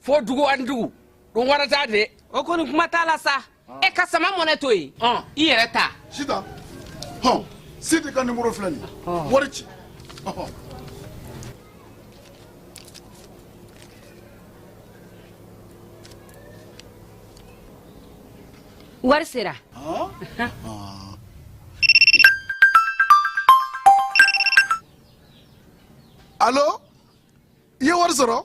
fo dugu ani dugu don wɛrɛ t'a de o kɔni kuma t'a la sa ah. e ka sama money to yen ah. i yɛrɛ ta sita hɔn sidi ka nimoro filɛ nin ah. wari ci wari sera alo i ye wari sɔrɔ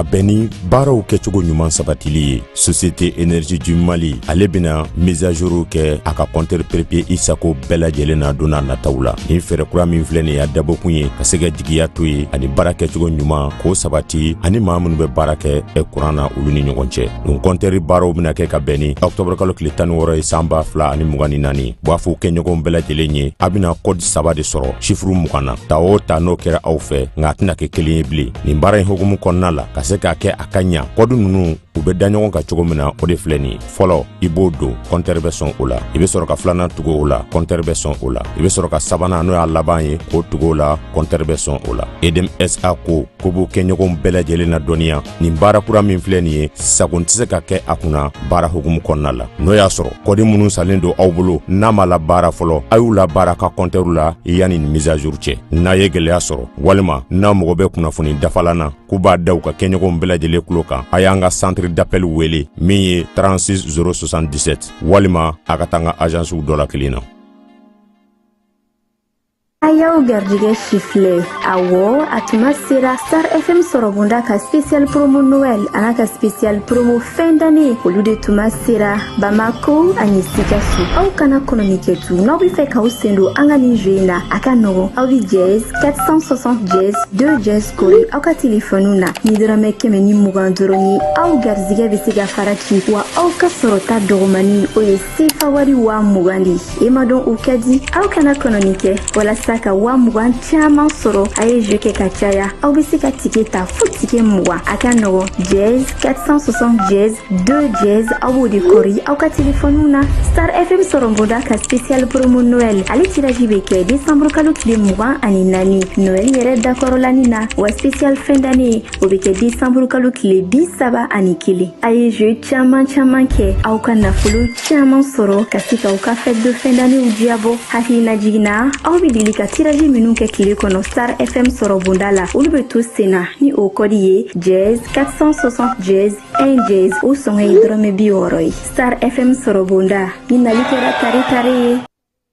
ka bɛn ni baaraw kɛcogo ɲuman sabatili ye société énergie du mali ale bena mise à jour kɛ a ka kɔntɛri prépayé isago bɛɛ lajɛlen na don n'a nataw la nin fɛɛrɛ kura min filɛ nin y'a dabɔkun ye ka se ka jigiya to ye ani baara kɛcogo ɲuman k'o sabati ani maa minnu bɛ baara kɛ kuran na olu ni ɲɔgɔn cɛ nin kɔntɛri baaraw bena kɛ ka bɛn ni ɔktɔbr kalo tile tan ni wɔɔrɔ ye san ba fila ani mugan ni naani b'a fɔ kɛɲɔgɔnw bɛɛ lajɛlen ye a bena kɔdi saba de sɔrɔ sifuru mugan na ta o ta n'o kɛra aw fɛ nka a tɛna kɛ kelen ye bilen nin baara in hukumu kɔnɔna la ka se k'a kɛ a ka ɲa kɔdi ninnu u be da ɲɔgɔn kan cogo min na o de filɛ nin ye fɔlɔ i b'o don kɔntɛri bɛ sɔn o la i be sɔrɔ ka filanan tugu o la kɔntɛri bɛ sɔn o la i be sɔrɔ ka sabanan n'o y'a laban ye k'o tugu o la kɔntɛri bɛ sɔn o la edm sa ko k'u b'u kɛɲɔgɔnw bɛɛ lajɛlen ladɔnniya nin baara kura min filɛ nin ye sagon tɛ se ka kɛ a kunna baara hukumu kɔnɔna la n'o y'a sɔrɔ kɔdi minnu sannen don aw bolo n'a ma labaara fɔlɔ a y'u labaara a ka kɔntɛriw la yanni nin mise à jour cɛ n'a ye gɛlɛya sɔrɔ walima n'a mago bɛ kunnafoni dafalan na k'u b'a da u ka kɛɲɔgɔnw bɛɛ lajɛlen tulo kan a y'an ka centre d'appel wele min ye 36 077 walima a ka taa an ka azansiw dɔ la kelen na a y'aw garijɛgɛ sifilɛ awɔ a tuma sera star fm sɔrɔbonda ka special promo noɛl an'a ka special promo fin d'année olu de tuma sera bamako ani sikaso aw kana kɔnɔni kɛ tugun n'aw be fɛ k'aw sen don an ka nin jeu in na a ka nɔgɔn aw be dièse 460 dièse 2 dièse kɔri aw ka telefɔniw na ni dɔrɔmɛ kɛmɛ ni mugan dɔrɔn ye aw garijɛgɛ be se ka fara ci wa aw ka sɔrɔta dɔgɔmani o ye sefa wari waa mugan di i m'a dɔn o ka di aw kana kɔnɔni kɛ walasa ka waa mugan caman sɔrɔ a ye jeu kɛ ka caya aw be se ka tike ta fo tike mugan a ka nɔgɔn dièse 460 dièse 2 dièse aw b'o de kɔri aw ka telefɔniw na star fm sɔrɔbonda ka special promo noɛl ale tiraji be kɛ desanburu kalo tile mugan ani naani noɛl yɛrɛ dakɔrɔlani na wa special fin d'année o bɛ kɛ desanburu kalo tile bi saba ani kelen a ye jeu caman caman kɛ aw ka nafolo caman sɔrɔ ka se ka aw ka fête de fin d'annéew diyabɔ hakilinajigin na aw bɛ deli ka tiraji minnu kɛ tile kɔnɔ star fm sɔrɔ bonda la olu bɛ to senna ni o kɔdi ye dièse 460 dièse 1 dièse o sɔngɔ ye dɔrɔmɛ bi wɔɔrɔ ye star fm sɔrɔ bonda nin nali kɛra tare tare ye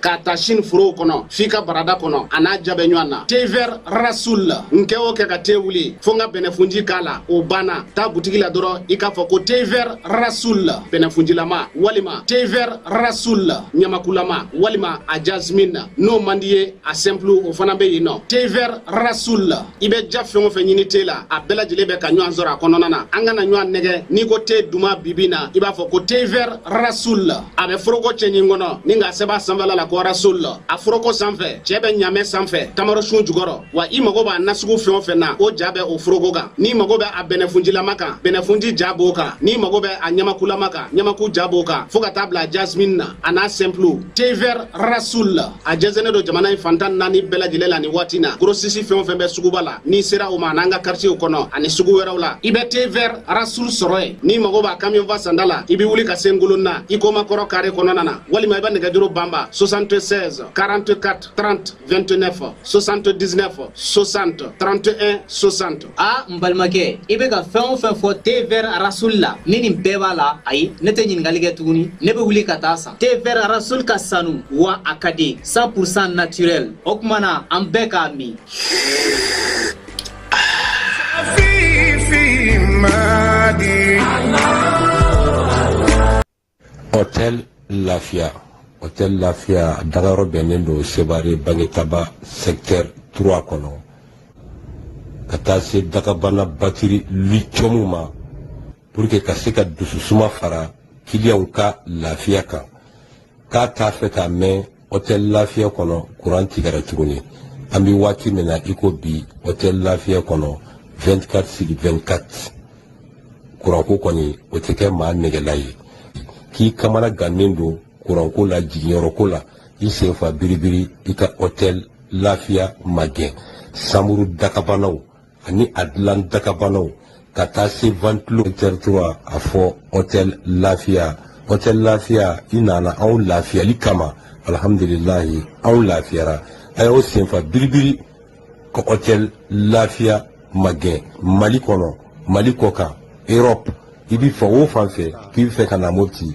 k'a ta sini forow kɔnɔ f'i ka barada kɔnɔ a n'a diya bɛ ɲɔgɔn na te vɛr rasul n kɛ o kɛ ka te wuli fo n ka bɛnɛfunji k'a la o banna taa butigi la dɔrɔn i k'a fɔ ko te vɛr rasul bɛnɛfunjilama walima te vɛr rasul ɲamakulama walima a jasmin n'o man d'i ye a sɛnpulu o fana bɛ yen nɔ te vɛr rasul i bɛ diya fɛn o fɛn ɲini te la a bɛɛ lajɛlen bɛ ka ɲɔgɔn sɔrɔ a kɔnɔna na an kana ɲɔgɔn nɛgɛ n'i ko te duman bibi na i b'a fɔ ko te vɛr rasul a bɛ foroko cɛɲin kɔnɔ ni k'a sɛbɛn a sanfɛla la ko rasul a foroko sanfɛ cɛ bɛ ɲamɛ sanfɛ tamarosun jukɔrɔ wa i mago b'a nasugu fɛn o fɛn na o ja bɛ o foroko kan n'i mago bɛ a bɛnɛfunjilama kan bɛnɛfunji ja b'o kan n'i mago bɛ a ɲamakulama kan ɲamaku ja b'o kan fɔɔ ka taa bila jasmine na a n'a sɛnpulu thé vert rasoul a jɛnsɛnnen don jamana in fan tan naani bɛɛ lajɛlen la nin waati na gorosisi fɛn o fɛn bɛ suguba la n'i sera o ma an'an ka karitiyew kɔnɔ ani sugu wɛrɛw la i bɛ te vɛr rasul sɔrɔ yen n'i mago b'a kamiyɔnfa sanda la i bɛ wuli ka se ngolonina i komakɔrɔ kare kɔnɔna na walima i bɛ nɛgɛjuru banba 76 44 30 29 79 60 31 60 aa n balimakɛ i bɛ ka fɛn o fɛn fɔ te vɛr rasul la ni nin bɛɛ b'a la ayi ne tɛ ɲininkali kɛ tuguni ne bɛ wuli ka t'a san te vɛr rasul ka sanu wa a ka di 100 pourcent naturel o tuma na an bɛɛ k'a min Hotel Lafia Hotel Lafia dagayɔrɔ bɛnnen don Sevare Bangetaba secteur 3 kɔnɔ ka taa se dakabana batiri lithium ma pour que ka se ka dususuma fara kiliyanw ka lafiya kan ka t'a fɛ ka mɛn hɔtɛli lafiya kɔnɔ kuran tigɛra tuguni an bɛ waati min na i ko bi hɔtɛli lafiya kɔnɔ 24 sur 24 kuranko kɔni o tɛ kɛ maa nɛgɛla ye k'i kamana gannen don kuranko la jiginyɔrɔko la i senfa biribiri i ka hɔtɛli lafiya magɛn sanburu dakabanaw ani a dilan dakabanaw ka taa se ventilo et cetera a fɔ hôtel lafiya hôtel lafiya i nana anw lafiyali kama alhamdulilahi anw lafiyara a y'aw senfa biribiri ka hôtel lafiya magɛn mali kɔnɔ mali kɔkan europe i bɛ fan o fan fɛ k'i bɛ fɛ ka na mopti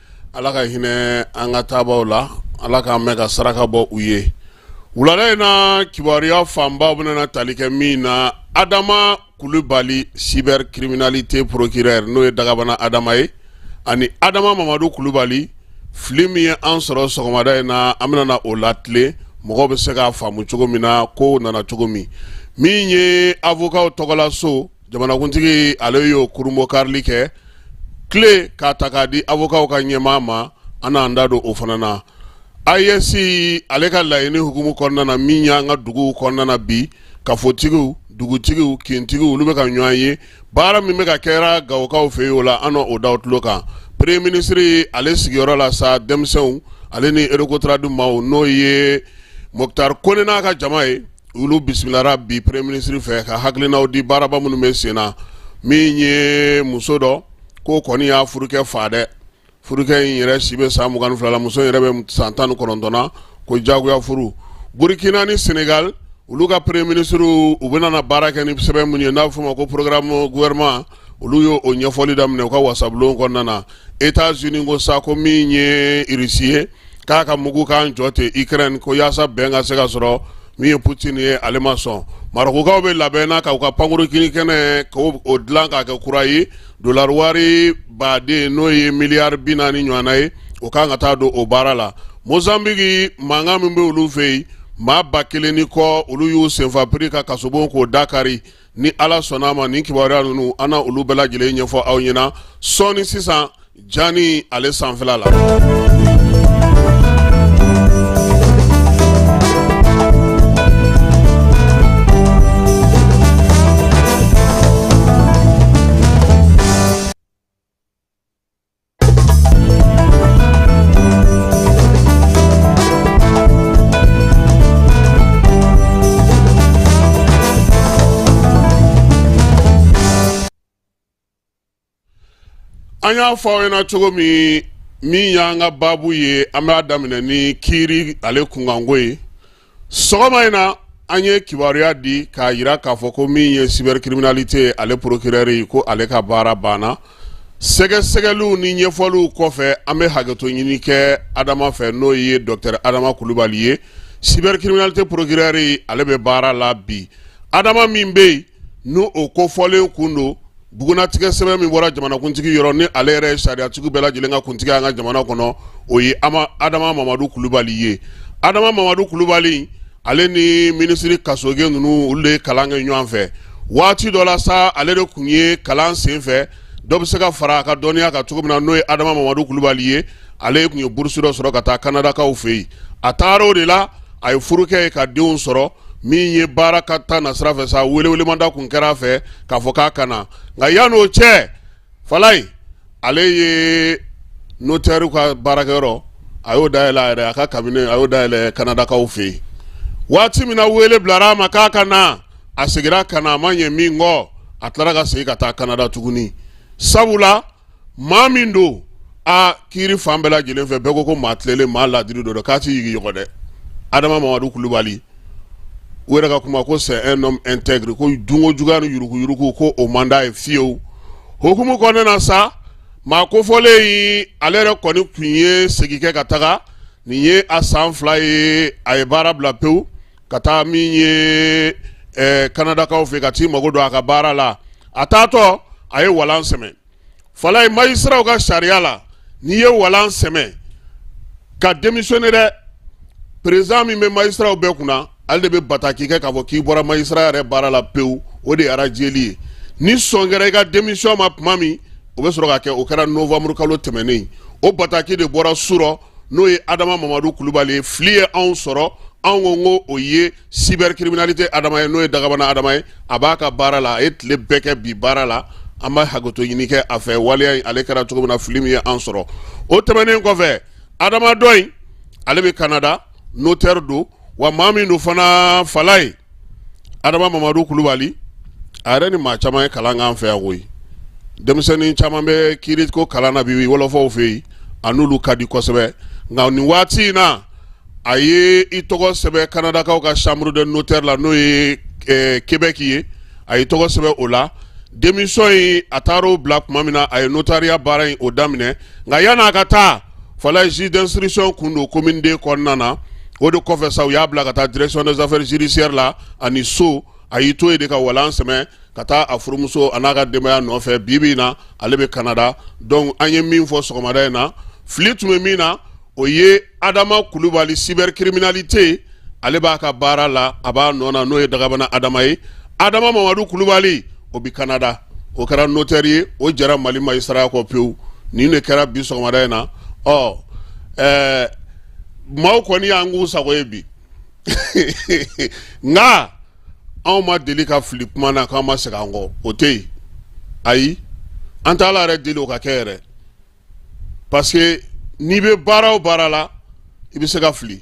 Ala ka hinɛ an ka taabaw la ala k'an mɛɛn ka saraka bɔ u ye wulada in na kibaruya fanba bɛna tali kɛ min na adama kulubali cybercriminalité procureur n'o ye dagabana adama ye ani adama mamadu kulubali fili min ye an sɔrɔ sɔgɔmada in na an bɛna o latilen mɔgɔw bɛ se k'a faamu cogo min na ko nana cogo min min ye avokaw tɔgɔla so jamanakuntigi ale y'o kurunbonkarili kɛ clé k'a ta k'a di avokaw ka ɲɛmaa ma an n'an da don o fana na aes ale ka laɲini hukumu kɔnɔna na min y'an ka dugu kɔnɔna na bi kafotigiw dugutigiw kintigiw olu bɛ ka ɲɔgɔn ye baara min bɛ ka kɛra gawokaw fɛ yen o la an n'o d'aw tulo kan premier ministre ale sigiyɔrɔ la sa denmisɛnw ale ni recotrade maaw n'o ye moctar kone n'a ka jama ye olu bisimilara bi premier ministre fɛ ka hakilinaw di baaraba minnu bɛ sen na min ye muso dɔ ko kɔni y'a furukɛ fa dɛ furukɛ in yɛrɛ si bɛ san mugan ni fila la muso yɛrɛ bɛ san tan ni kɔnɔntɔn na ko jagoya furu burukina ni senegali olu ka premier ministrew u bɛna na baara kɛ ni sɛbɛn minnu ye n'a bɛ fɔ a ma ko programme gouvernement olu y'o ɲɛfɔli daminɛ u ka wasabulon kɔnɔna na etazini ko sa ko min ye irisi ye k'a ka mugu kan jɔ ten ukraine ko yaasa bɛn ka se ka sɔrɔ min ye putini ye ale ma sɔn marɔkukaw bɛ labɛn na k'u ka pankurun jigin kɛnɛ k'o dilan k'a kɛ kura ye dolari wari baden n'o ye miliyari bi naani ɲɔgɔnna ye o kan ka taa don o baara la mozanbiki mankan min bɛ olu fɛ yen maa ba kelen ni kɔ olu y'u senfa piri ka kasobon k'o da kari ni ala sɔnn'a ma nin kibaruya ninnu an na olu bɛɛ lajɛlen ɲɛfɔ aw ɲɛna sɔɔni sisan jani ale sanfɛla la an y'a fɔ aw ɲɛna cogo min min y'an ka baabu ye an b'a daminɛ ni kiiri ale kunkanko ye sɔgɔma in na an ye kibaruya di k'a yira k'a fɔ ko min ye cybercriminalité ale procureur ye ko ale ka baara banna sɛgɛsɛgɛliw ni ɲɛfɔliw kɔfɛ an bɛ hakɛto ɲini kɛ adama fɛ n'o ye docteur adama kulubali ye cybercriminalité procureur ye ale bɛ baara la bi adama min bɛ yen n'o kofɔlen kun don bugunnatigɛ sɛbɛn min bɔra jamanakuntigi yɔrɔ ni ale yɛrɛ ye sariyatigiw bɛɛ lajɛlen ka kuntigi an ka jamana kɔnɔ o ye adama mamadu kulubali ye adama mamadu kulubali ale ni minisiri kasoge ninnu olu de ye kalan kɛ ɲɔgɔn fɛ waati dɔ la sa ale de kun ye kalan sen fɛ dɔ bɛ se ka fara a ka dɔnniya kan cogo min na n'o ye adama mamadu kulubali ye ale kun ye burusi dɔ sɔrɔ ka taa kanadakaw fɛ yen a taara o de la a ye furu kɛ yen ka denw sɔrɔ min ye baara ka taa na sira fɛ sa welewelemada tun kɛra a fɛ k'a fɔ k'a ka na nka yan'o cɛ falayi ale ye notaire ka baarakɛyɔrɔ a y'o dayɛlɛ a yɛrɛ a ka cabinet a y'o dayɛlɛ kanadakaw fɛ yen waati min na wele bilara a ma k'a ka na a seginna ka na a ma ɲɛ min kɔ a tilara ka segin ka taa kanada tuguni sabula maa min don a kiiri fan bɛɛ lajɛlen fɛ bɛɛ ko ko maa tilelen maa ladiri don k'a tɛ yigiyɔgɔ dɛ adama mamadu kulubali u yɛrɛ ka kuma ko c'est un homme intègre ko dunko juguya ni yuruguyurugu ko o man d'a ye fiyewu o hukumu kɔnɔna na sa maa kofɔlen in ale yɛrɛ kɔni tun ye segin kɛ ka taga nin ye a san fila ye a ye baara bila pewu ka taa min ye kanadakaw fɛ ka t'i mago don a ka baara la a taatɔ a ye walan sɛmɛ falayi magistratw ka sariya la n'i ye walan sɛmɛ ka démissionner dɛ président min bɛ magistratw bɛɛ kunna ale de bɛ bataki kɛ k'a fɔ k'i bɔra magistrat yɛrɛ baara la pewu o de ye arajeli ye ni sɔn kɛra i ka démission ma tuma min o bɛ sɔrɔ ka kɛ o kɛra novanburu kalo tɛmɛnen o bataki de bɔra surɔ n'o ye adama mamadu kulubali ye fili ye anw sɔrɔ anw ko ko o ye cybercriminalité adama ye n'o ye dagabana adama ye a b'a ka baara la a ye tile bɛɛ kɛ bi baara la an b'a hakɛto ɲini kɛ a fɛ waleya in ale kɛra cogo min na fili min ye an sɔrɔ o tɛmɛnen kɔfɛ adama dɔ in ale bɛ canada notaire don wa maa min don fana falayi adama mamadu kulubali a yɛrɛ ni maa caman ye kalan k'an fɛ yan koyi denmisɛnnin caman bɛ kiiri ko kalan na bi wɔlɔfɔw fɛ yen a n'olu ka di kosɛbɛ nka nin waati in na a ye i tɔgɔ sɛbɛn kanadakaw ka chambre de notaire la n'o ye québec ye a ye tɔgɔ sɛbɛn o la démission in a taara o bila tuma min na a ye notariya baara in o daminɛ nka yan'a ka taa falayi juge d'instruction kun don commune deux kɔnɔna na o de kɔfɛ sa u y'a bila ka taa direction des affaires judiciaires la ani sceau a y'i to yen de ka walan sɛmɛ ka taa a furumuso an'a ka denbaya nɔfɛ bi bi in na ale bɛ kanada donc an ye min fɔ sɔgɔmada in na fili tun bɛ min na o ye adama kulubali cybercriminalité ale b'a ka baara la a b'a nɔ na n'o ye dagabana adama ye adama mamadu kulubali o bɛ kanada o kɛra notaire ye o jɛra mali magistrat kɔ pewu nin de kɛra bi sɔgɔmada in na ɔ ɛɛ maaw kɔni y'an k'u sago ye bi nka anw ma deli ka fili kuma na k'an ma segin an kɔ o tɛ yen ayi an t'ala yɛrɛ deli o ka kɛ yɛrɛ parce que n'i bɛ baara o baara la i bɛ se ka fili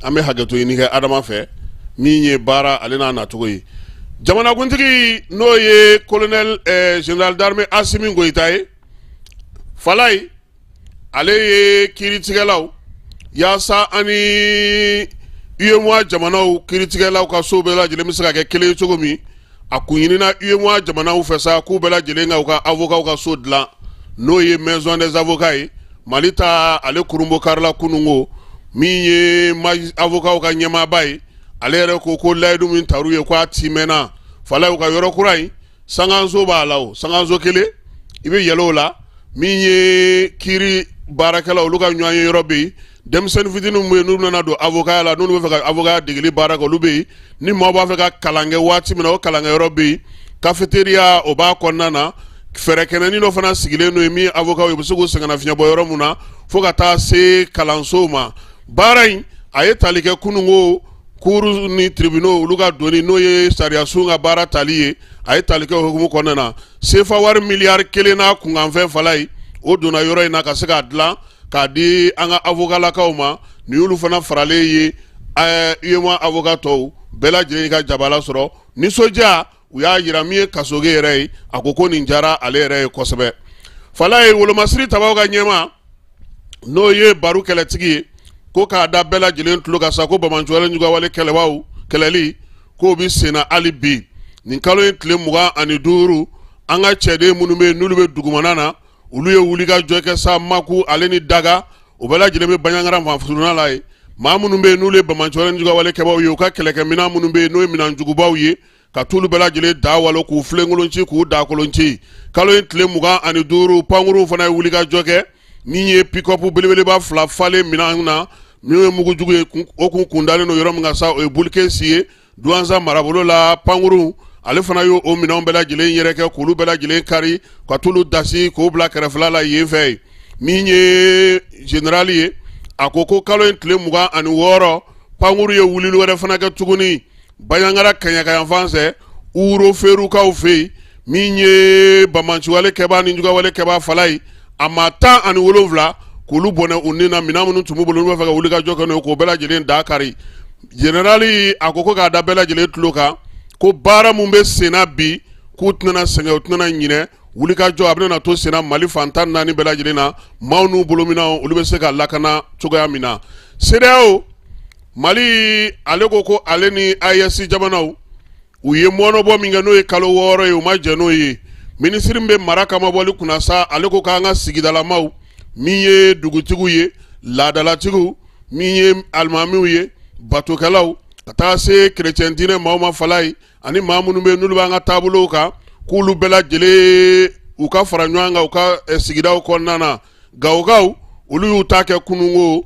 an bɛ hakɛto ɲini kɛ adama fɛ min ye baara ale n'a nacogo ye jamanakuntigi n'o ye kolonɛli eh, général d'armée asimi goyita ye falayi ale ye kiiritigɛlaw yaasa an ni uyemoa jamanaw kiiritigɛlaw ka sow bɛɛ lajɛlen bɛ se ka kɛ kelen ye cogo min a kun ɲinina uyemoa jamanaw fɛ sa k'u bɛɛ lajɛlen ka u ka avokaw ka so dilan n'o ye maison des avocats ye mali ta ale kurunbonkarila kunungo min ye avokaw ka ɲɛmaaba ye ale yɛrɛ ko ko layidu min tar'u ye ko a tiimɛna falayi u ka yɔrɔ kura in sankanso b'a la o sankanso kelen i bɛ yɛlɛ o la min ye kiiri baarakɛlaw olu ka ɲɔgɔn ye yɔrɔ bɛ yen denmisɛnnin fitinin minnu bɛ yen n'u nana don avokaya la n'u bɛ fɛ ka avokaya degeli baara kɛ olu bɛ yen ni maa b'a fɛ ka kalan kɛ waati min na o kalankɛyɔrɔ bɛ yen cafétéria o b'a kɔnɔna na fɛrɛkɛnɛnin dɔ fana sigilen don yen min avokaw bɛ se k'u sɛgɛnnafiɲɛbɔ yɔrɔ min na fo ka taa se kalansow ma baara in a ye tali kɛ kunungo cours ni tribunaux olu ka donni n'o ye sariyasow ka baara tali ye a ye tali kɛ o hukumu kɔnɔna na sefa wari miliyari kelen n'a kunkanfɛn fala ye o donna yɔrɔ in na ka se k'a dilan k'a di an ka avokalakaw ma ni olu fana faralen ye uyemoa avoka tɔw bɛɛ lajɛlen ka jabala sɔrɔ nisɔndiya u y'a jira min ye kasoge yɛrɛ ye a ko ko nin diyara ale yɛrɛ ye kosɛbɛ fala ye wolomasiri tabaw ka ɲɛma n'o ye baro kɛlɛtigi ye ko k'a da bɛɛ lajɛlen tulo kan sa ko banbaanciwale ni juguwale kɛbaw kɛlɛli k'o bɛ senna hali bi nin kalo in tile mugan ani duuru an ka cɛden minnu bɛ yen n'olu bɛ dugumana na olu ye wuli ka jɔ kɛ sa maku ale ni daga o bɛɛ lajɛlen bɛ banjagara fanfuruna la ye maa minnu bɛ yen n'olu ye banbaanciwale ni juguyawale kɛbaaw ye u ka kɛlɛkɛminɛn minnu bɛ yen n'o ye minɛn jugubaw ye ka t'olu bɛɛ lajɛlen da walo k'u filenkolon ci k'u daakolon ci kalo in tile mugan ani duuru pankuruw fana ye wuli ka jɔ kɛ min ye pikɔpu belebeleba fila falen minɛn na min ye mugu jugu ye o kun kundalen don yɔrɔ min kan sa o ye bulikesi ye Duwanza marabolo la pankuru ale fana y'o minɛnw bɛɛ lajɛlen yɛrɛkɛ k'olu bɛɛ lajɛlen kari ka t'olu dasi k'o bila kɛrɛfɛla la yen fɛ ye min ye zenerali ye a ko ko kalo in tile mugan ani wɔɔrɔ pankuru ye wulili wɛrɛ fana kɛ tuguni banjagara kaɲakayanfan fɛ wuro ferukaw fɛ yen min ye banbaanci kɛba ni juguwale kɛba fala ye a maa tan ani wolowula k'olu bɔnɛ u ni na minɛn minnu tun b'u bolo n'u bɛ fɛ ka wuli ka jɔ kɛ n'o ye k'o bɛɛ lajɛlen da kari Jenerali a ko ko k'a da bɛɛ lajɛlen tulo kan ko baara minnu bɛ senna bi k'u tɛna sɛgɛn u tɛna ɲinɛ wulikajɔ a bɛna to senna mali fan tan ni naani bɛɛ lajɛlen na maaw n'u bolominɛnw olu bɛ se ka lakana cogoya min na CEDEAO mali ale ko ko ale ni AES jamanaw u ye mɔnɔbɔ min kɛ n'o ye kalo wɔɔrɔ ye u ma jɛn n'o ye minisiri bɛ mara kama bɔli kunna sa ale ko k'an ka sigidalamaw min ye dugutigiw ye laadadalatigiw min ye alimamiw ye batokɛlaw ka taa se kerecɛn diinɛ maaw ma falaye ani maa minnu bɛ yen n'olu b'an ka taabolow kan k'olu bɛɛ lajɛlen u ka fara ɲɔgɔn kan u ka eh, sigidaw kɔnɔna na gawokaw olu y'u ta kɛ kunungo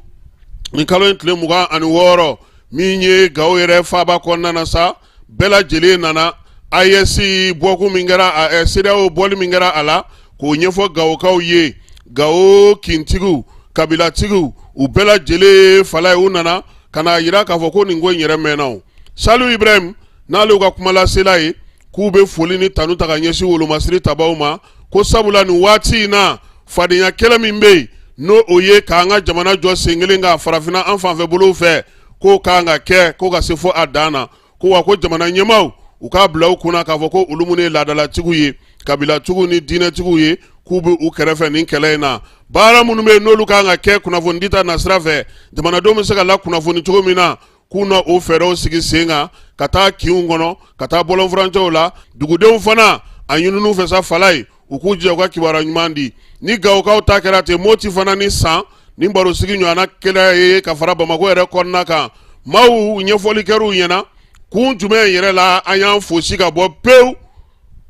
nin kalo in tile mugan ani wɔɔrɔ min ye gawo yɛrɛ faaba kɔnɔna sa bɛɛ lajɛlen nana AES bɔkun min kɛra CEDEAO bɔli min kɛra a la k'o ɲɛfɔ gawokaw ye gawo kintigiw kabilatigiw u bɛɛ lajɛlen falaye u nana ka n'a jira k'a fɔ ko nin ko in yɛrɛ mɛnna saliu ibrahim n'ale ka kumalasela ye k'u bɛ foli ni tanu ta ka ɲɛsin wolomasiri tabaw ma ko sabula nin waati in na fadenya kɛlɛ min bɛ yen n'o o ye k'an ka jamana jɔ sen kelen ka farafinna an fanfɛ bolow fɛ k'o ka kan ka kɛ ko ka se fo a dan na ko wa ko jamana ɲɛmaaw u k'a bila u kunna k'a fɔ ko olu minnu ye laadalatigiw ye kabilatigiw ni diinɛtigiw ye k'u bɛ u kɛrɛfɛ nin kɛlɛ in na baara minnu bɛ yen n'olu ka kan ka kɛ kunnafoni dita nasira fɛ jamanadenw bɛ se ka lakunnafoni cogo min na k'u na o fɛɛrɛw sigi sen kan ka taa kinw kɔnɔ ka taa bɔlɔnfurancɛw la dugudenw fana a ɲinin'u fɛ sa falaye u k'u jija u ka kibaruya ɲuman di ni gawokaw ta kɛra ten moti fana ni san ni barosigi ɲɔgɔnna kɛlen ye ka fara bamakɔ yɛrɛ kɔnɔna kan maaw ɲɛfɔli kɛr'u ɲɛna kun jumɛn yɛrɛ la an y'an fosi ka bɔ pewu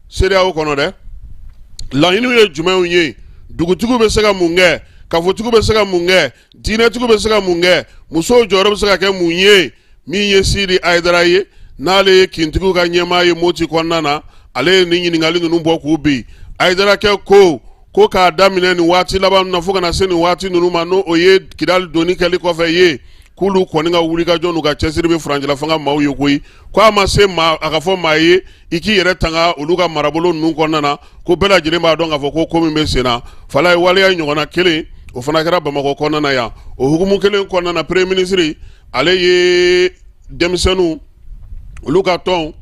CEDEAO kɔnɔ dɛ laɲiniw ye jumɛnw ye dugutigiw bɛ se ka mun kɛ kafotigiw bɛ se ka mun kɛ diinɛtigiw bɛ se ka mun kɛ musow jɔyɔrɔ bɛ se ka kɛ mun ye min ye sidi ayidara ye n'ale ye kintigiw ka ɲɛmaa ye moti kɔnɔna na ale ye nin ɲininkali ninnu bɔ k'u bin ayidarakɛ ko ko k'a daminɛ nin waati laban na fo ka na se nin waati ninnu ma n'o o ye kidali donni kɛli kɔfɛ ye k'olu kɔni ka wulikajɔ n'u ka cɛsiri bɛ furancɛla fanga maaw ye koyi ko a ma se maa a ka fɔ maa ye i k'i yɛrɛ tanga olu ka marabolo ninnu kɔnɔna na ko bɛɛ lajɛlen b'a dɔn k'a fɔ ko ko min bɛ senna falaye waleya ɲɔgɔnna kelen o fana kɛra bamakɔ kɔnɔna na yan o hukumu kelen kɔnɔna na premier ministre ale ye denmisɛnninw olu ka tɔn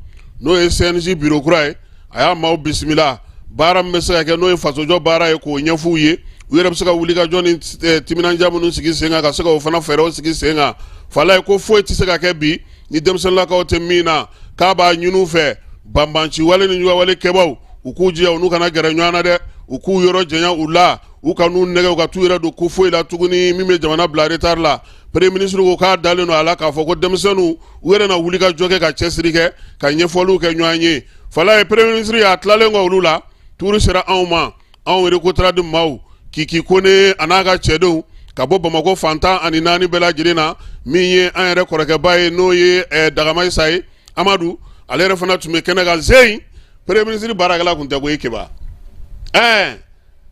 n'o ye CNJ biro kura ye a y'a maaw bisimila baara min bɛ se ka kɛ n'o ye fasojɔ baara ye k'o ɲɛf'u ye u yɛrɛ bɛ se ka wuli ka jɔ ni eh, timinandiya minnu sigi sen kan ka se ka o fana fɛɛrɛw sigi sen kan falaye ko foyi tɛ se ka kɛ bi ni denmisɛnninlakaw tɛ min na k'a b'a ɲini u fɛ banbanci wale ni juguwale kɛbaw u k'u jija u n'u kana gɛrɛ ɲɔgɔn na dɛ u k'u yɔrɔ janya u la u kan'u nɛgɛn u ka t'u yɛrɛ don ko foyi la tuguni min bɛ jamana bila retard la premier ministre ko k'a dalen don a la k'a fɔ ko denmisɛnninw u yɛrɛ na wulikajɔ kɛ ka cɛsiri kɛ ka ɲɛfɔliw kɛ ɲɔgɔn ye fala ye premier ministre y'a tilalen kɔ olu la tuuru sera anw ma anw recotrade maaw kiki kone a n'a ka cɛdenw ka bɔ bamakɔ fan tan ani naani bɛɛ lajɛlen na min ye an yɛrɛ kɔrɔkɛba ye n'o ye eh, dagamaisa ye amadu ale yɛrɛ fana tun bɛ kɛnɛ kan zeyi premier ministre baarakɛla tun tɛ ko ye keba ɛɛ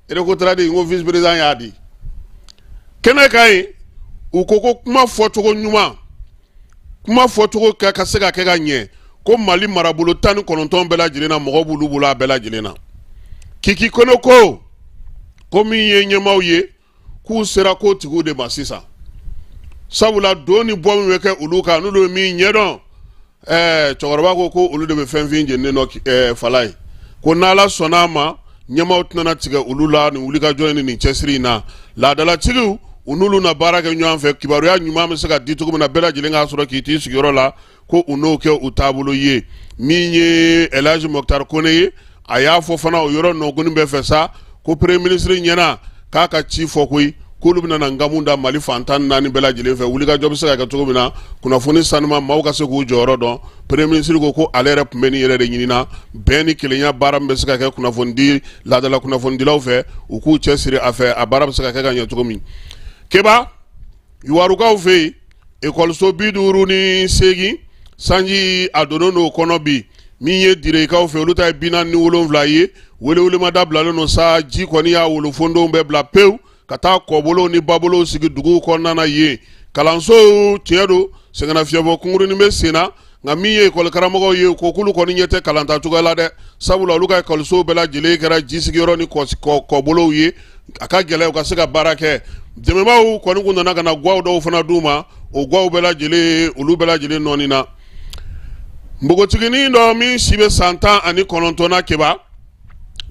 recotrade ko vice président y'a di kɛnɛ kan yen u ko ko kuma fɔcogo ɲuman kuma fɔcogo ka se ka kɛ ka ɲɛ ko mali marabolo tan ni kɔnɔntɔn bɛɛ lajɛlen na mɔgɔ b'olu bolo a bɛɛ lajɛlen na kiki kone ko ko min ye ɲɛmaaw ye k'u sera ko tigiw de ma sisan sabula don ni bɔ min bɛ kɛ olu kan n'olu ye min ɲɛdɔn ɛɛ cɛkɔrɔba ko ko olu de bɛ fɛn fin jeninen dɔn ɛɛ fala ye ko n'ala sɔnn'a ma ɲɛmaaw tɛna tigɛ olu la ni wulikajɔ ni nin cɛsiri in na laadalatigiw u n'olu na baara kɛ ɲɔgɔn fɛ kibaruya ɲuman bɛ se ka di cogo min na bɛɛ lajɛlen k'a sɔrɔ k'i t'i sigiyɔrɔ la ko u n'o kɛ u taabolo ye min ye elhaji mɔkutari kone ye a y'a fɔ fana o yɔrɔ nɔgɔni bɛɛ fɛ sa ko premier ministre ɲɛna k'a ka ci fɔ koyi k'olu bɛna na nkamu da mali fan tan naani bɛɛ lajɛlen fɛ wulikajɔ bɛ se ka kɛ cogo min na kunnafoni sanuman maaw ka se k'u jɔyɔrɔ dɔn premier ministre ko ko ale yɛrɛ tun bɛ nin yɛrɛ de ɲinina bɛn ni kelenya baara min bɛ se ka kɛ kunnafonidi laadala kunnafonidilaw fɛ u k'u cɛ siri a fɛ a baara bɛ se ka kɛ ka ɲɛ cogo min keba yuwarukaw fɛ yen ekɔliso bi duuru ni segin sanji a donnen don kɔnɔ bi min ye direkaw fɛ olu ta ye bi naani ni wolonwula ye welewelema dabilalen don sa ji kɔni y'a wolofondenw bɛɛ bila pewu ka taa kɔbolow ni babolow sigi duguw kɔnɔna na yen kalansow tiɲɛ don sɛgɛnnafiɲɛbɔ kunkurunnin bɛ sen na nka min ye ekɔli karamɔgɔw ye ko k'olu kɔni ɲɛ tɛ kalanta cogoya la dɛ sabula olu ka ekɔlisow bɛɛ lajɛlen kɛra ji sigiyɔrɔ ni kɔbolow ye a ka gɛlɛn u ka se ka baara kɛ dɛmɛbaw kɔni kun nana ka na gaw dɔw fana d'u ma o gaw bɛɛ lajɛlen olu bɛɛ lajɛlen nɔɔni na npogotiginin dɔ min si bɛ san tan ani kɔnɔntɔn na keba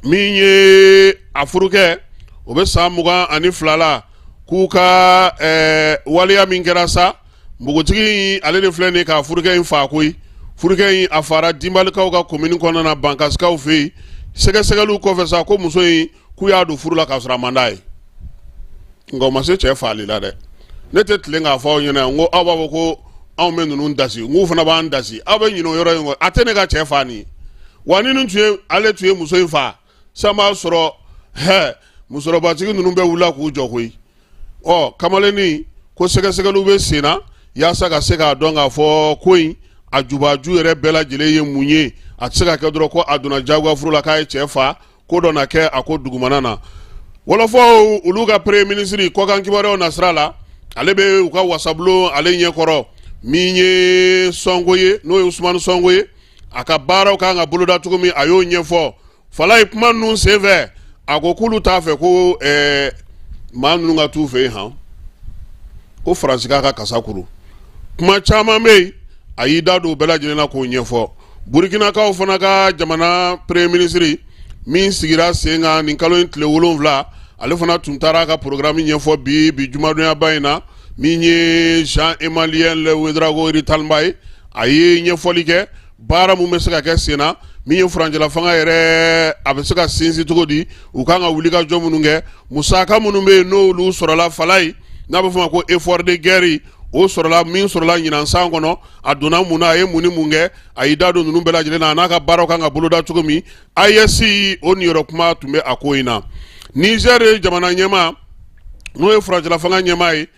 min ye a furukɛ o bɛ san mugan ani fila la k'u ka waleya min kɛra sa npogotigi ale de filɛ nin k'a furukɛ in faa koyi furukɛ in a faara dinbalikaw ka komini kɔnɔna na bankasikaw fɛ yen sɛgɛsɛgɛliw kɔfɛ sa ko muso in k'u y'a don furu la k'a sɔrɔ a man d'a ye nka o ma se cɛ faali la dɛ ne tɛ tilen k'a fɔ aw ɲɛna n ko aw b'a fɔ ko anw bɛ ninnu dasi n k'u fana b'an dasi aw bɛ ɲinɛ o yɔrɔ in kɔ a tɛ ne ka cɛ faa nin ye wa ni nin tun ye ale tun ye muso in faa san b'a sɔrɔ hɛ musokɔrɔbatigi ninnu bɛ wuli k'u jɔ koyi ɔ kamalennin ko sɛgɛsɛgɛliw bɛ sen na yaasa ka se k'a dɔn k'a fɔ ko in a jubaju yɛrɛ bɛɛ lajɛlen ye mun ye a tɛ se ka kɛ dɔrɔn ko a donna jagoyafuru la k'a ye cɛ faa ko dɔ na kɛ a ko dugumana na wɔlɔfɔw olu ka premier ministre kɔkan kibaruyaw nasira la ale bɛ u ka wasabulon ale ɲɛkɔrɔ min ye sɔnko ye n'o ye usumani sɔnko ye a ka baaraw kan ka boloda cogo min a y'o ɲɛfɔ falaye kuma ninnu senfɛ a ko k'olu t'a fɛ ko eh, maa ninnu ka t'u fɛ yen han ko faransi k'a ka kasa kuru kuma caman bɛ yen a y'i da don u bɛɛ lajɛlen na k'o ɲɛfɔ burukinakaw fana ka jamana premier ministre min sigira sen kan nin kalo in tile wolonwula ale fana tun taara a ka programme ɲɛfɔ bi jumadonyaba in na min ye jean emmanuel ouédraogo rimtalba ye a ye ɲɛfɔli kɛ baara mun bɛ se ka kɛ sen na min ye furancɛla fanga yɛrɛ a bɛ se ka sinsin cogo di u kan ka wulikajɔ minnu kɛ musaka minnu bɛ yen n'olu sɔrɔla falaye n'a bɛ fɔ a ma ko effort de guerre o sɔrɔla min sɔrɔla ɲinan san kɔnɔ a donna mun na a ye mun ni mun kɛ a y'i da don ninnu bɛɛ lajɛlen na a n'a ka baaraw kan ka boloda cogo min AES o niyɔrɔ kuma tun bɛ a ko in na Niger jamana ɲɛmaa n'o ye furancɛla fanga ɲɛmaa ye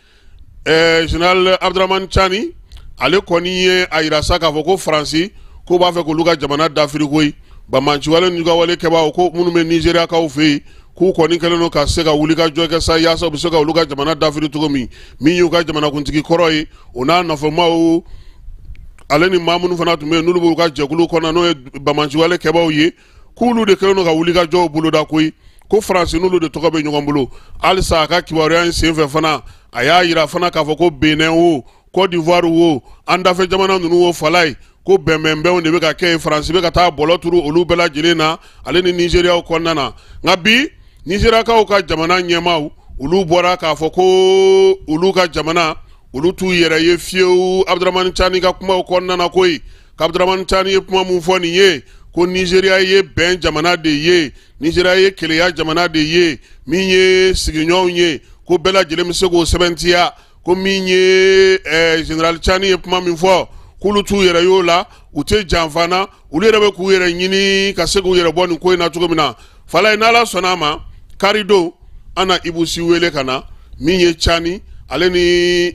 ɛɛ général abdramani cani ale kɔni ye a yira sa k'a fɔ ko faransi k'o b'a fɛ k'olu ka jamana dafiri koyi banbaanciwale n'u ka wale kɛbaaw ko minnu bɛ nizeriyakaw fɛ yen k'u kɔni kɛlen don ka se ka wulikajɔ kɛ sa yaasa u bɛ se ka olu ka jamana dafiri cogo min min y'u ka jamanakuntigi kɔrɔ ye o n'a nɔfɛmaw ale ni maa minnu fana tun bɛ yen n'olu b'u ka jɛkulu kɔnɔ n'o ye banbaanciwale kɛbaaw ye k'olu de kɛlen don ka wulikajɔw boloda koyi ko faransi n'olu de tɔgɔ bɛ ɲɔgɔn bolo halisa a ka kibaruya in senfɛ fana a y'a yira fana k'a fɔ ko benin wo côte d'ivoire wo an dafɛ jamana ninnu wo falaye ko bɛnbɛnbɛnw de bɛ ka kɛ yen faransi bɛ ka taa bɔlɔ turu olu bɛɛ lajɛlen na ale ni nizeriyaw kɔnɔna na nka bi nizeriyakaw ka jamana ɲɛmaaw olu bɔra k'a fɔ ko olu ka jamana olu t'u yɛrɛ ye fiyewu abudramani cani ka kumaw kɔnɔna na koyi k'abdramani cani ye kuma min fɔ nin ye ko nizeriya ye bɛn jamana de ye nizeriya ye kelenya jamana de ye min ye sigiɲɔgɔnw ye ko bɛɛ lajɛlen bɛ se k'o sɛbɛntiya ko min ye eh, général cani ye kuma min fɔ k'olu t'u yɛrɛ y'o la u tɛ janfa na olu yɛrɛ bɛ k'u yɛrɛ ɲini ka se k'u yɛrɛ bɔ nin ko in na cogo min na falaye n'ala sɔnna a ma karidon an na ibu si wele ka na min ye cani ale ni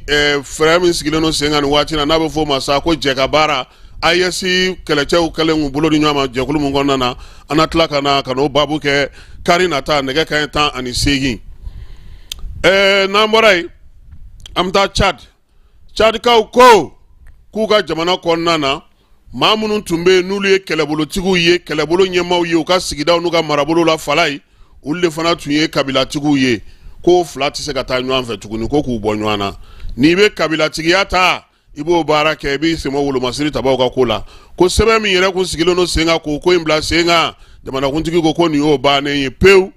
eh, fɛɛrɛ min sigilen don sen kan nin waati na n'a bɛ fɔ o ma sa ko jɛkabaara AES kɛlɛcɛw kɛlen k'u bolo di ɲɔgɔn ma jɛkulu min kɔnɔna na an na tila ka na ka n'o baabu kɛ kari nata nɛgɛ kanɲɛ tan ani seegin ɛɛ eh, n'an bɔra yen an bɛ taa Tchad cadikaw ko k'u ka jamana kɔnɔna na maa minnu tun bɛ yen n'olu ye kɛlɛbolotigiw ye kɛlɛbolo ɲɛmaaw ye u ka sigidaw n'u ka marabolo la fala ye olu de fana tun ye kabilatigiw ye k'o fila tɛ se ka taa ɲɔgɔn fɛ tuguni ko k'u bɔ ɲɔgɔn na n'i bɛ kabilatigiya ta i b'o baara kɛ i b'i senbɔ wolomasiri tabaw ka ko la ko sɛbɛn min yɛrɛ kun sigilen don sen kan k'o ko in bila sen kan jamanakuntigi ko ko nin y'o bannen ye pewu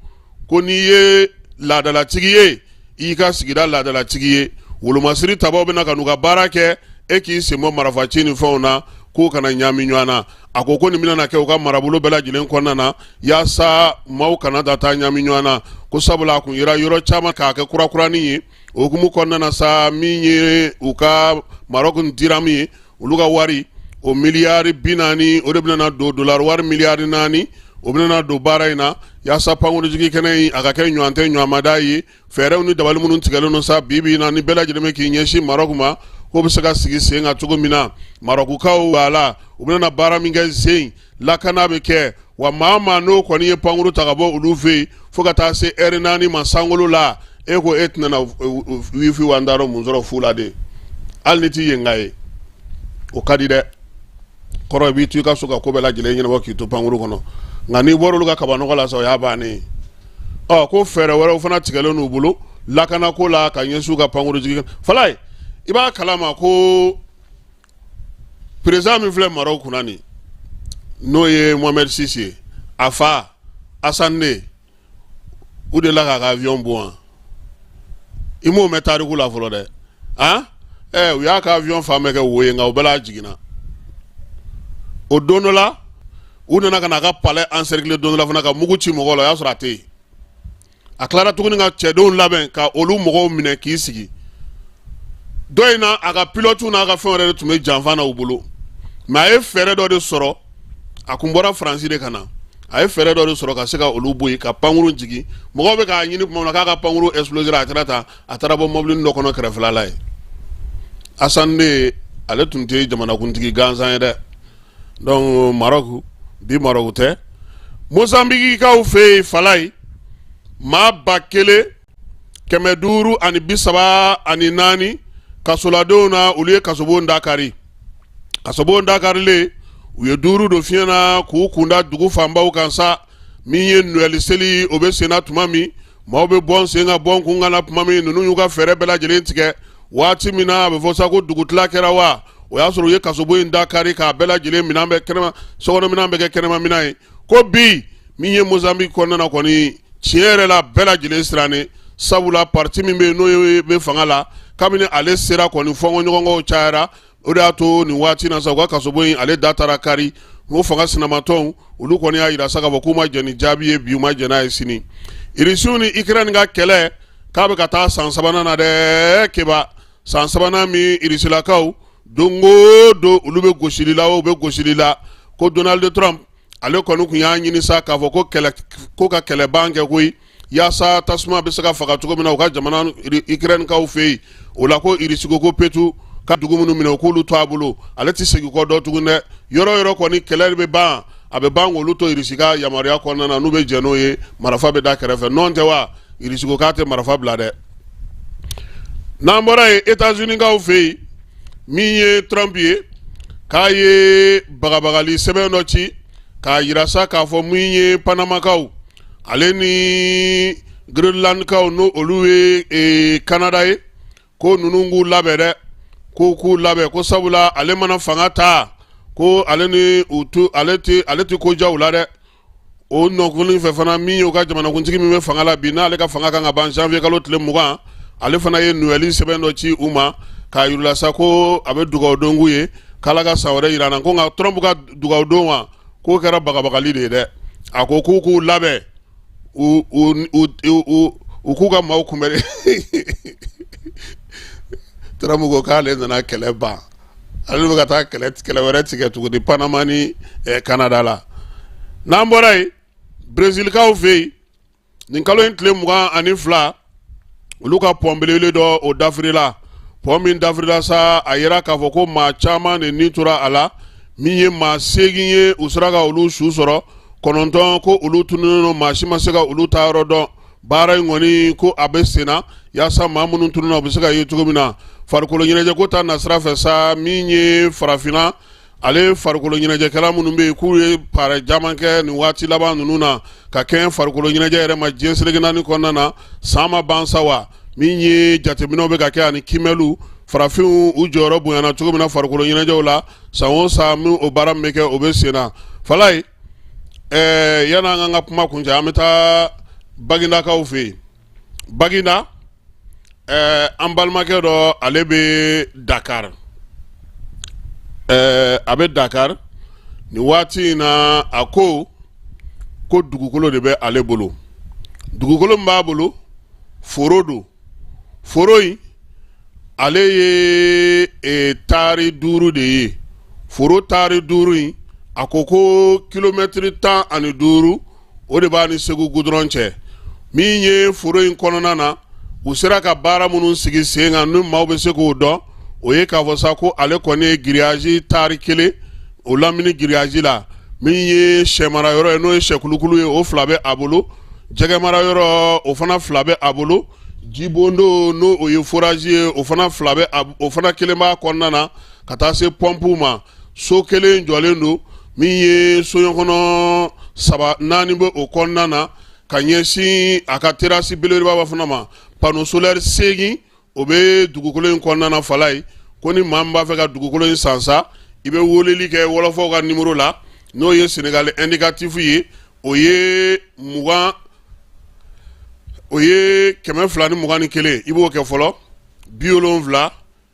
ko n'i ye laadalatigi ye i ka sigida laadalatigi ye wolomasiri tabaw bɛna ka n'u ka baara kɛ e k'i senbɔ marafaci ni fɛnw na kow kana ɲaami ɲɔgɔn na a ko ko nin bɛna kɛ u ka marabolo bɛɛ lajɛlen kɔnɔna na yaasa maaw kana taa taa ɲaami ɲɔgɔn na ko sabula a kun yera yɔrɔ caman k'a kɛ kurakurani ye o hukumu kɔnɔna na sa min ye u ka marɔku diramu ye olu ka wari o miliyari bi naani o de bɛna don dolari wari miliyari naani o bɛna don baara in na yaasa pankurujigi kɛnɛ in a ka kɛ ɲɔgɔn tɛ ɲɔgɔnmada ye fɛɛrɛw ni dabali minnu tigɛlen don sa bi bi na nin bɛɛ lajɛlen bɛ k'i ɲɛsin marɔku ma k'o bɛ se ka sigi sen kan cogo min na marɔkukaw b'a la u bɛna baara min kɛ sen lakana bɛ kɛ wa maa maa n'o kɔni ye pankuru ta ka bɔ olu fɛ yen fo ka taa se ɛri naani ma sankolo la e ko e tɛna wifi wa da mun sɔrɔ fu la de hali n'i tɛ yenka ye o ka di dɛ kɔrɔ b'i to i ka so ka ko bɛɛ lajɛlen ɲɛnabɔ k'i to pankuru kɔnɔ nka n'i bɔra olu ka kabanɔgɔ la sa o y'a bannen ɔ ko fɛɛrɛ wɛrɛw fana tigɛlen n'u bolo lakanako la ka ɲɛsin u ka pankuru jigin fala ye i b'a kala ma ko perezidan min filɛ marɔku kunna nin n'o ye mohamɛd sisi ye a fa asan de u delila k'a ka avion bon wa i m'o mɛn tariku la fɔlɔ dɛ an ɛ u y'a ka avion fan bɛɛ kɛ wo ye nka o bɛɛ la a jiginna o don dɔ la u nana ka na a ka palais encercler don dɔ la fana ka mugu ci mɔgɔw la o y'a sɔrɔ a tɛ yen a tilara tuguni ka cɛdenw labɛn ka olu mɔgɔw minɛ k'i sigi dɔ in na a ka pilotu n'a ka fɛn wɛrɛ de tun bɛ janfa na u bolo mɛ a ye fɛɛrɛ dɔ de sɔrɔ a kun bɔra faransi de ka na a ye fɛɛrɛ dɔ de sɔrɔ ka se ka olu bɔ yen ka pankuru jigin mɔgɔw bɛ k'a ɲini tuma min na k'a ka pankuru exploser a taara ta a taara bɔ mɔbili dɔ kɔnɔ kɛrɛfɛla la ye asani de ye ale tun tɛ jamanakuntigi gansan ye dɛ dɔnku marɔku bi marɔku tɛ mozanbikikaw fɛ yen fala ye maa ba kelen kɛmɛ duuru ani bi saba ani naani kasoladenw na olu ye kasobon dakari kasobon dakarilen u ye duuru don fiɲɛ na k'u kunda dugu fanbaw kan sa min ye nowɛli seli o bɛ senna tuma min maaw bɛ bɔ sen ka bɔ kun kana tuma min ninnu y'u ka fɛɛrɛ bɛɛ lajɛlen tigɛ waati min na a bɛ fɔ sa ko dugutila kɛra wa o y'a sɔrɔ u ye kasobon in da kari k'a bɛɛ lajɛlen sokɔnɔ minɛn bɛɛ kɛ kɛnɛma minɛn ye ko bi min ye mozambique kɔnɔna na kɔni tiɲɛ yɛrɛ la bɛɛ lajɛlen sirannen sabula parti min bɛ yen n'o bɛ fanga la kabini ale sera kɔni fɔnkɔɲɔgɔnkɔw cayara o de y'a to nin waati na sa u ka kasobon in ale da taara kari o fanga sinamatɔnw olu kɔni y'a yira sa k'a fɔ k'u ma jɛn ni jaabi ye bi u ma jɛn n'a ye sini irisiw ni ikirɛni ka kɛlɛ k'a bɛ ka taa san sabanan na dɛ keba san sabanan min irisilakaw don o don olu bɛ gosili la u bɛ gosili la ko donald trump ale kɔni kun y'a ɲini sa k'a fɔ k'u ka kɛlɛban kɛ koyi yaasa tasuma bɛ se ka faga cogo min na u ka jamana ikirɛnikaw fɛ yen o la ko irisi ko ko putin ka dugu minnu minɛ u k'olu to a bolo ale tɛ segin kɔ dɔ tuguni dɛ yɔrɔ yɔrɔ kɔni kɛlɛ bɛ ban a bɛ ban olu to irisi ka yamaruya kɔnɔna na n'u bɛ jɛn n'o ye marifa bɛ da kɛrɛfɛ nɔntɛ wa irisi ko k'a tɛ marifa bila dɛ n'an bɔra yen etazinikaw fɛ yen min ye trump ye k'a ye bagabagali sɛbɛn dɔ ci k'a yira sa k'a fɔ min ye panamakaw ale ni greenlandkaw n'o olu ye e, kanada ye ko ninnu k'u labɛn dɛ ko k'u labɛn ko sabula ale mana fanga ta ko ale ni ale tɛ ko ja u la dɛ o nɔkun fɛ fana min ye u ka jamanakuntigi min bɛ fanga la bi n'ale ka fanga kan ka ban janvier kalo tile mugan ale fana ye nowɛli sɛbɛn dɔ ci u ma k'a yira u la sa ko a bɛ dugawudon k'u ye k'ala ka san wɛrɛ yira an na ko nka trump ka dugawudon wa k'o kɛra bagabagali de ye dɛ a ko k'u k'u labɛn u k'u ka maaw kunbɛn trump ko k'ale nana kɛlɛ ban ale bɛ ka taa kɛlɛ kɛlɛ wɛrɛ tigɛ tuguni panama ni kanada la n'an bɔra yen brezilikaw fɛ yen nin kalo in tile mugan ani fila olu ka pɔn belebele dɔ o dafirila pɔn min dafirila sa a yira k'a fɔ ko maa caman de ni tora a la min ye maa seegin ye u sera ka olu su sɔrɔ kɔnɔntɔn ko olu tununnen don maa si ma se ka olu taayɔrɔ dɔn baara in kɔni ko a bɛ sen na yaasa maa minnu tununna u bɛ se ka ye cogo min na farikolo ɲɛnajɛko ta nasira fɛ sa min ye farafinna ale farikolo ɲɛnajɛkɛla minnu bɛ yen k'u ye baara caman kɛ nin waati laban ninnu na ka kɛ farikolo ɲɛnajɛ yɛrɛ ma diɲɛ seleke naani kɔnɔna na san ma ban sa wa min ye jateminɛw bɛ ka kɛ ani kiimɛliw farafinw u jɔyɔrɔ bonyana cogo min na farikolo ɲɛnajɛw la san o san min o baara min bɛ kɛ o bɛ sen na falayi ɛɛ yan'an k'an ka kuma kuncɛ an bɛ taa bagindakaw fɛ yen baginda ɛɛ an balimakɛ dɔ ale bɛ dakari ɛɛ a bɛ dakari nin waati in na a ko ko dugukolo de bɛ ale bolo dugukolo min b'a bolo foro don foro in ale ye e, taari duuru de ye foro taari duuru in a ko ko kilomɛtiri tan ani duuru o de b'a ni segu gudɔrɔn cɛ min ye foro in kɔnɔna na u sera ka baara minnu sigi sen kan ni maaw bɛ se k'o dɔn o ye k'a fɔ sa ko ale kɔni ye giriyazi taari kelen o lamini giriyazi la min ye sɛmara yɔrɔ ye n'o ye sɛkulukulu ye o fila bɛ a bolo jɛgɛmara yɔrɔ o fana fila bɛ a bolo jibondo n'o o ye forazi ye o fana fila bɛ o fana kelen b'a kɔnɔna na ka taa se pɔnpuw ma so kelen jɔlen don min ye soɲɔkɔnɔ saba naani bɛ o kɔnɔna na ka ɲɛsin a ka terasi belebelebaba fana ma pano solɛri seegin o bɛ dugukolo in kɔnɔna na falaye ko ni maa min b'a fɛ ka dugukolo in san sa i bɛ weleli kɛ wɔlɔfɔw ka nimoro la n'o ye senegali ɛndikatifu ye o ye mugan o ye kɛmɛ fila ni mugan ni kelen i b'o kɛ fɔlɔ bi wolonfila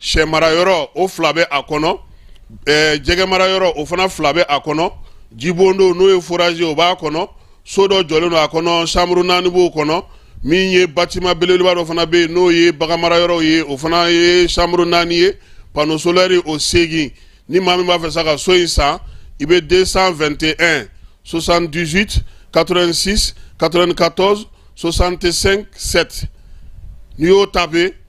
sɛ mara yɔrɔ o fila bɛ a kɔnɔ jɛgɛ mara yɔrɔ o fana fila bɛ a kɔnɔ jibondow n'o ye forazi o b'a kɔnɔ so dɔ jɔlen don a kɔnɔ sanburu naani b'o kɔnɔ min ye batiman belebeleba dɔ fana bɛ yen n'o ye bagan mara yɔrɔw ye o fana ye sanburu naani ye pano solɛri o seegin ni maa min b'a fɛ sa ka so in san i bɛ 221 78 86 94 65 7 n'i y'o tape